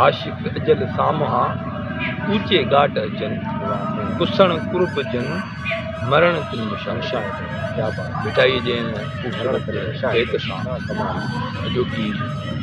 عاشق اجل سامهان، اوچي ڳاٽ اچن، پسڻ قرب جن، مرڻ تن مشاهد. ڀٽائيء جي ان خوبصورت بيت سان اڄوڪي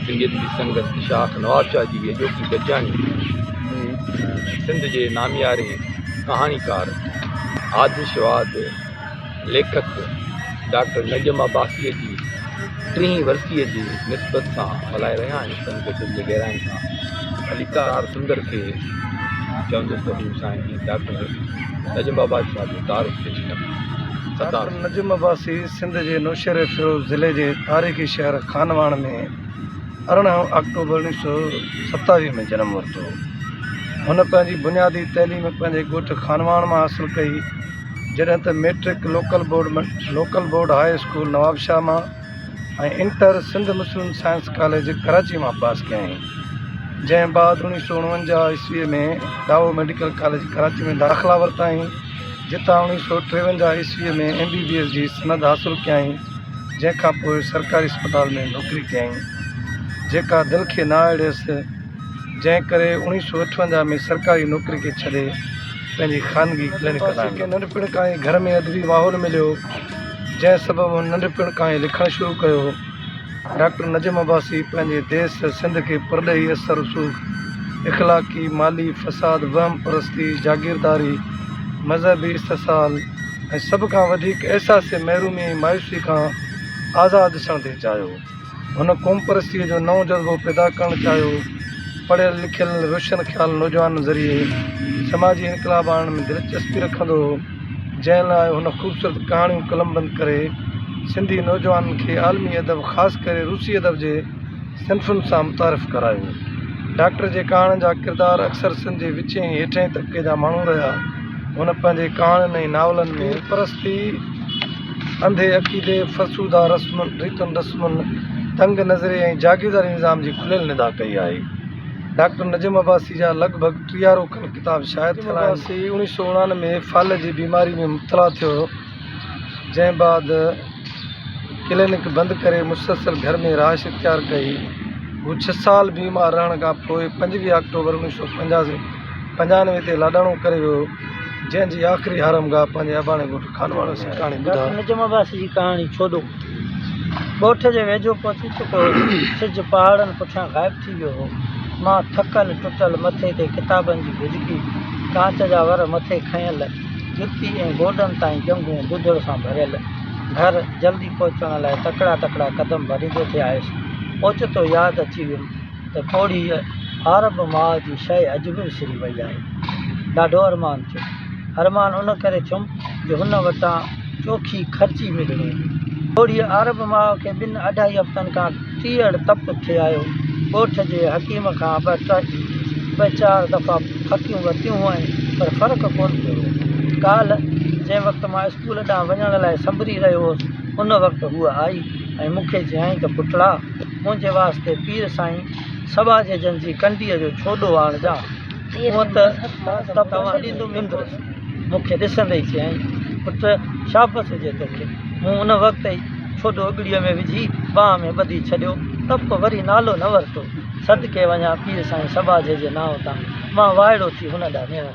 سنڌيت جي سنگت شاخ نوابشاهه جي اڄوڪي گڏجاڻي سنڌ جي نامياري ڪهاڻيڪار آڌشواڌ، ليکڪ ڊاڪٽر نجم عباسيء جي ٽيهين ورسيء جي نسبت سان ملهائي رهيا آهن تن کي دل جي گهرائين کان عليڪار آر سندر کي چوندس ته هو سائين جي ڊاڪٽر نجم عباسي صاحب جو تعارف پيش ڪن ستار ڊاڪٽر نجم عباسي سنڌ جي نوشهريفيروز ضلعي جي تاريخي شهر خانواهڻ ۾ ارڙهن آڪٽوبر اڻيهه سؤ ستاويهه ۾ جنم ورتو هن پنهنجي بنيادي تعليم پنهنجي ڳوٺ خانواهڻ مان حاصل ڪئي جڏهن ته matric local board local board high school Nawabshah مان ۽ inter Sindh Muslim science college Karachi مان پاس ڪيائين جنهن بعد اوڻيهه سو اڻونجاهه عيسوي ۾ ڊائو ميڊيڪل ڪاليج ڪراچي ۾ داخلا ورتائين جتان اوڻيهه سو ٽيونجاهه عيسوي ۾ ايم بي بي ايس جي سند حاصل ڪيائين جنهن کانپوء سرڪاري اسپتال ۾ نوڪري ڪيائين جيڪا دل کي ناهه اڙيس جنهن ڪري اوڻيهه سؤ اٺونجاهه ۾ سرڪاري نوڪري کي ڇڏي پنهنجي خانگي ڪلينڪ هلايو. کيس ننڍپڻ کان ئي گهر ۾ ادبي ماحول مليو، جنهن سبب هن ننڍپڻ کان ئي لکڻ شروع ڪيو. ڊاڪٽر نجم عباسي پنهنجي ديس سنڌ کي پرڏيهي اثر رسوخ، اخلاقي، مالي فساد، وهم پرستي، جاگيرداري، مذهبي استحصال ۽ سڀ کان وڌيڪ احساس محرومي ۽ مايوسي کان آزاد ڏسڻ تي چاهيو. هن قومپرستيء جو نئون جذبو پيدا ڪرڻ چاهيو. پڙهيل لکيل ۽ روشن خيال نوجوانن ذريعي سماجي انقلاب آڻڻ ۾ دلچسپي رکندو هو، جنهن لاء هن خوبصورت ڪهاڻيون قلمبند ڪري سنڌي نوجوانن کي عالمي ادب خاص ڪري روسي ادب جي صنفن سان متعارف ڪرايو. ڊاڪٽر جي ڪهاڻين جا ڪردار اڪثر سنڌ جي وچين ۽ هيٺئين طبقي جا ماڻهو رهيا. هن پنهنجي ڪهاڻين ۽ ناولن ۾ قومپرستي، انڌي عقيدي، فرسوده رسمن، ريتن رسمن، تنگ نظري ۽ جاگيرداري نظام جي کليل ندا ڪئي آهي. ڊاڪٽر نجم عباسي جا لڳ ڀڳ ٽيهارو کن ڪتاب شايع ٿيل آهن. نجم عباسي اوڻيهه سؤ اڻانوي ۾ فالج جي بيماري ۾ مبتلا ٿيو هو، جنهن بعد ڪلينڪ بند ڪري مسلسل گهر ۾ رهائش اختيار ڪئي. هو ڇهه سال بيمار رهڻ کان پوء پنجويهه آڪٽوبر اوڻيهه سؤ پنجانوي تي لاڏاڻو ڪري ويو. جنهن جي آخري آرامگاهه پنهنجي اباڻي ڳوٺ خانواڻو سي ڪهاڻي ٻڌا. ڊاڪٽر نجم عباسي جي ڪهاڻي ڇوڏو ڳوٺ جي ويجهو پهچي چڪو هو. سج پهاڙن پٺيان غائب ٿي ويو هو. مان ٿڪل ٽٽل مٿي تي ڪتابن جي گجڪي، ڪانچ جا ور مٿي کنيل، جتي ۽ گوڏن تائين ڄنگهون ڏڌڙ سان ڀريل. گهر جلدي پهچڻ لاء تڪڙا تڪڙا قدم ڀريندو ٿي آيس. اوچتو ياد اچي ويم. ته ڪوڙي هار به ماء جي شيء اڄ به وسري وئي آهي. ڏاڍو ارمان ٿيو. ارمان ان ڪري ٿيم جو هن وٽان چوکي خرچي ملڻي هئي. ڪوڙي هار به ماء کي ٻن اڍائي هفتن کان تيڙ تپ ٿي آيو. ڳوٺ جي حڪيم کان ٻه چار دفعا ڦڪيون ورتيون هئائين پر فرق ڪونه پيو هو. ڪالهه جنهن وقت مان اسڪول ڏانهن وڃڻ لاء سنبري رهيو هوس ان وقت هوء آئي ۽ مون کي چيائين ته پٽڙا! منهنجي واسطي پير سائين سٻا جي جن جي ڪنڊيء جو ڇوڏو آڻجان. هونء ته توهان ڏيندو ويندس. مون کي ڏسندي ئي چيائين، پٽ شابس هجي توکي. مون ان وقت ئي ڇوڏو اڳڙيء ۾ وجهي ٻانهن ۾ ٻڌي ڇڏيو ته پوء وري نالو نه ورتو. صدقي وڃان پير سائين سٻا جي جي نانء تان. مان وائڙو ٿي هن ڏانهن نيڻ.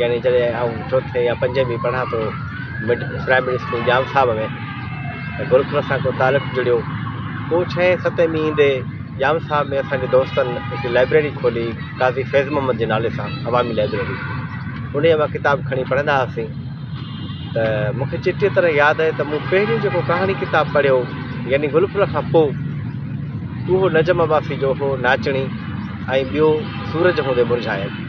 يعني جڏهن آئون چوٿين يا پنجين ۾ پڙهان ٿو mid primary school Jam Sahib ۾ ته گرکن سان ڪو تعلق جڙيو پوء ڇهين ستين ۾ ايندي ڄام صاحب ۾ اسان جي دوستن هڪ لائبريري کولي قاضي فيض محمد جي نالي سان عوامي لائبريري انهيء مان ڪتاب کڻي پڙهندا هئاسين ته مون کي چٽيء طرح ياد آهي ته مون پهريون جيڪو ڪهاڻي ڪتاب پڙهيو يعني گلڦل کان پوء اهو نجم عباسي جو هو ناچڻي ۽ ٻيو سورج هوندي مرجهايل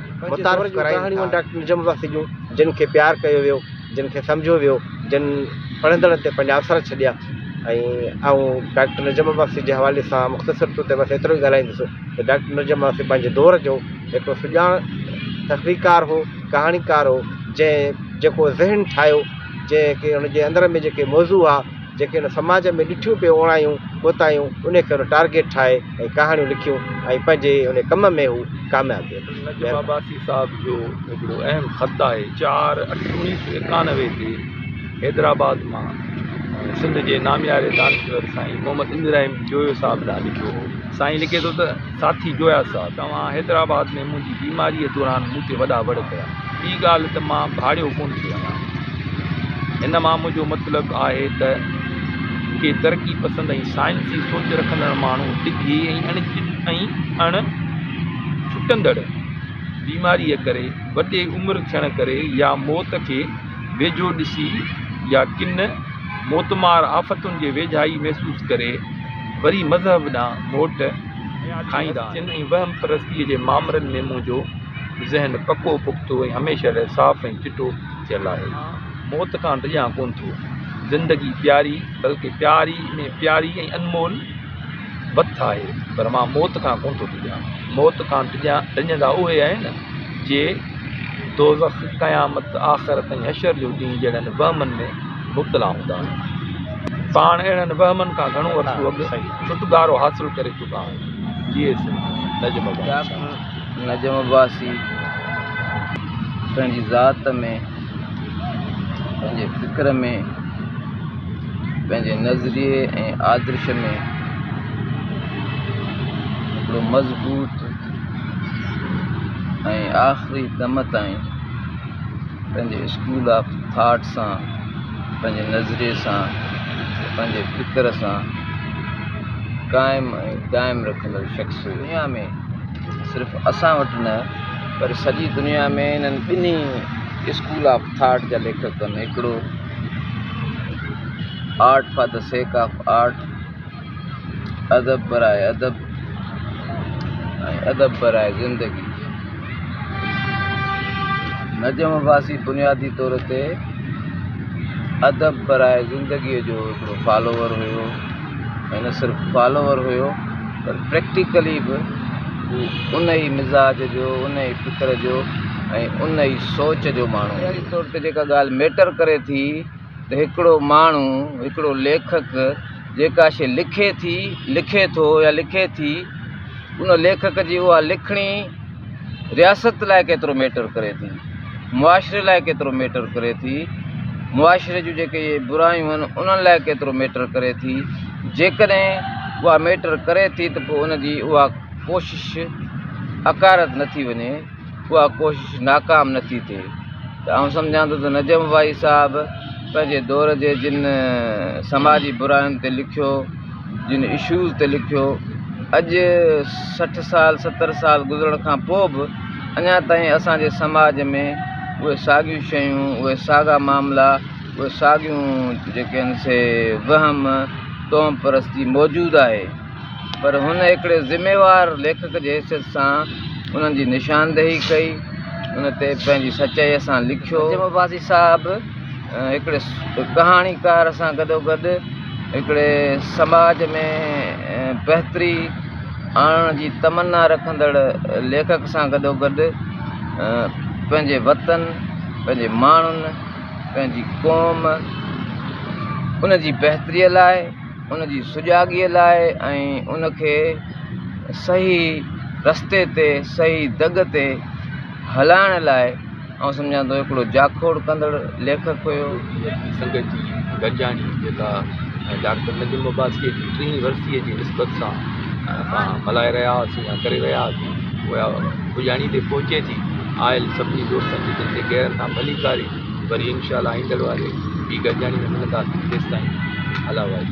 متعارف ڪرائين ٿا. اهي ڪهاڻيون ڊاڪٽر نجم عباسي جون، جن کي پيار ڪيو ويو، جن کي سمجهيو ويو، جن پڙهندڙن تي پنهنجا اثر ڇڏيا ۽ آئون ڊاڪٽر نجم عباسي جي حوالي سان مختصر طور تي بس ايترو ئي ڳالهائيندس ته ڊاڪٽر نجم عباسي پنهنجي دور جو هڪڙو سڄاڻ تخليقڪار هو، ڪهاڻيڪار هو، جنهن جيڪو ذهن ٺاهيو، جنهن کي ان جي اندر ۾ جيڪي موضوع هئا، جيڪي هن سماج ۾ ڏٺيون پيو اوڻايون ڪوتاهيون انهي کي هن ٽارگيٽ ٺاهي ۽ ڪهاڻيون لکيون ۽ پنهنجي انهي ڪم ۾ هو ڪامياب ويو. نجف عباسي صاحب جو هڪڙو اهم خط آهي چار اٺ اوڻيهه سو ايڪانوي تي حيدرآباد مان سنڌ جي نامياري دانشور سائين محمد ابراهيم جويو صاحب ڏانهن لکيو هو. سائين لکي ٿو ته، ساٿي جويا صاحب، توهان حيدرآباد ۾ منهنجي بيماريء دوران مون تي وڏا وڙ ڪيا. ٻي ڳالهه ته مان ڀاڙيو ڪونه ٿي هڻان. هن مان منهنجو مطلب آهي ته ڪي ترقي پسند ۽ سائنسي سوچ رکندڙ ماڻهو ڊگهي ۽ اڻ ڇٽندڙ بيماريء ڪري، وڏي عمر ٿيڻ ڪري يا موت کي ويجهو ڏسي يا ڪن موتمار آفتن جي ويجهائي محسوس ڪري، وري مذهب ڏانهن موٽ کائيندا آهن ۽ وهم پرستيء جي مامرن ۾ منهنجو ذهن پڪو پختو ۽ هميشه لاء صاف ۽ چٽو ٿيل آهي. مان موت کان ڊڄان ڪونه ٿو. زندگي پياري، بلڪه پياري ۾ پياري ۽ انمول بت آهي، پر مان موت کان ڪونه ٿو ڊڄان. موت کان ڊڄندا اهي آهن، جي دوزخ، قيامت، آخرت ۽ حشر جو ڏينهن جهڙن وهمن ۾. مبتلا هوندا آهن. پاڻ اهڙن وهمن کان گهڻو عرصو اڳ ڇوٽڪارو حاصل ڪري چڪا آهن. جيئي سنڌ، نجم عباسي. نجم عباسي پنهنجي ذات ۾، پنهنجي فڪر ۾، پنهنجي نظريي ۽ آدرش ۾ هڪڙو مضبوط ۽ آخري دم تائين پنهنجي اسڪول آف ٿاٽ سان، پنهنجي نظريي سان، پنهنجي فڪر سان قائم ۽ دائم رکندڙ شخص هيو. دنيا ۾ صرف اسان وٽ نه پر سڄي دنيا ۾ انهن ٻنهي اسڪول آف ٿاٽ جا ليکڪن هڪڙو art for the sake of art, ادب برائي ادب ۽ ادب برائي زندگي نجم عباسي بنيادي طور تي ادب برائي زندگيء جو هڪڙو فالوور هيو ۽ نه صرف فالوور هيو پر پريڪٽيڪلي به هو ان ئي مزاج جو ان ئي فڪر جو ۽ ان ئي سوچ جو ماڻهو هيو طور تي جيڪا ڳالهه ميٽر ڪري ٿي ته هڪڙو ماڻهو، هڪڙو ليکڪ جيڪا شيء لکي ٿي، لکي ٿو يا لکي ٿي، ان ليکڪ جي اها لکڻي رياست لاء ڪيترو ميٽر ڪري ٿي، معاشري لاء ڪيترو ميٽر ڪري ٿي، معاشري جون جيڪي اهي برايون آهن انهن لاء ڪيترو ميٽر ڪري ٿي، جيڪڏهن اها ميٽر ڪري ٿي ته پوء ان جي اها ڪوشش اڪارت نه ٿي وڃي. اها ڪوشش ناڪام نه ٿي ٿئي ته آئون سمجهان ٿو ته نجم وائي صاحب پنهنجي دور جي جن سماجي براين تي لکيو جن اشوز تي لکيو اڄ سٺ سال ستر سال گذرڻ کان پوء به اڃا تائين اسانجي سماج ۾ اهي ساڳيون شيون اهي ساڳا معاملا اهي ساڳيون جيڪي آهن سي وهم تهم پرستي موجود آهي پر هن هڪڙي ذميوار ليکڪ جي حيثيت سان انهن جي نشاندهي ڪئي، ان تي پنهنجي سچائيء سان لکيو. نجم عباسي صاحب هڪڙي ڪهاڻيڪار سان گڏوگڏ هڪڙي سماج ۾ بهتري آڻڻ جي تمنا رکندڙ ليکڪ سان گڏوگڏ پنهنجي وطن، پنهنجي ماڻهن، پنهنجي قوم، ان جي بهتريء لاء، ان جي سجاڳيء لاء ۽ ان کي صحيح رستي تي صحيح دڳ تي هلائڻ لاء آئون سمجهان ٿو هڪڙو جاکوڙ ڪندڙ ليکڪ هيو. ليکڪ سنگت جي گڏجاڻي جيڪا ڊاڪٽر نجم عباسيء جي ٽيهين ورسيء جي نسبت سان اسان ملهائي رهيا هئاسين يا ڪري رهيا هئاسين اها پڄاڻي تي پهچي ٿي آيل سڀني دوستن جي دل تي غيرن سان ڀليڪاري وري انشاء الله آئيندڙ واري ٻي گڏجاڻي ۾ ملنداسين تيستائين الله واري